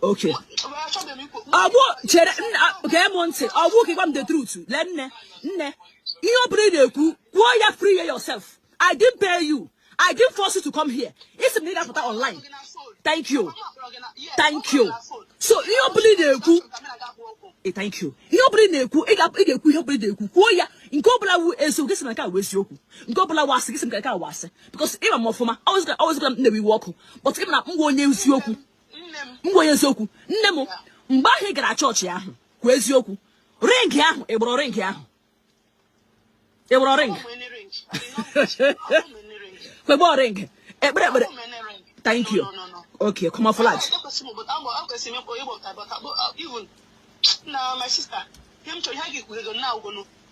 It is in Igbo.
Okay. ọgwụ chere gee m ntị ọgwụ ka ị gwa m the truth lee nne nne ihe ọ bụla ị na-ekwu kwuo ya free yourself i didn't pay you i didn't force you to come here ị sị m na ị ga-apụta online thank you thank you so ihe ọ bụla ị na-ekwu eh, thank you ihe ọ bụla ị na-ekwu ị ga-ekwu ihe ọ bụla ị na-ekwu kwuo ya nke ọ bụla wụ eziokwu gị sị na nke a wụ eziokwu nke ọ bụla wụ asị gị sị nke a wụ asị because ị ma m ọfụma ọ wụ ezie na m na-ewe iwe ọkụ but ị ma na m wụ onye eziokwu m gwa ya eziokwu nne m mgbe ahụ ị gara chọọchị ahụ kwuo eziokwu ring ahụ ị gbọrọ ring ahụ ị gbọrọ ring kwegbe ring ekpere ekpere thank you okay come off live na my sister ihe m chọrọ ihe a ga-ekwughego nna agwụgonu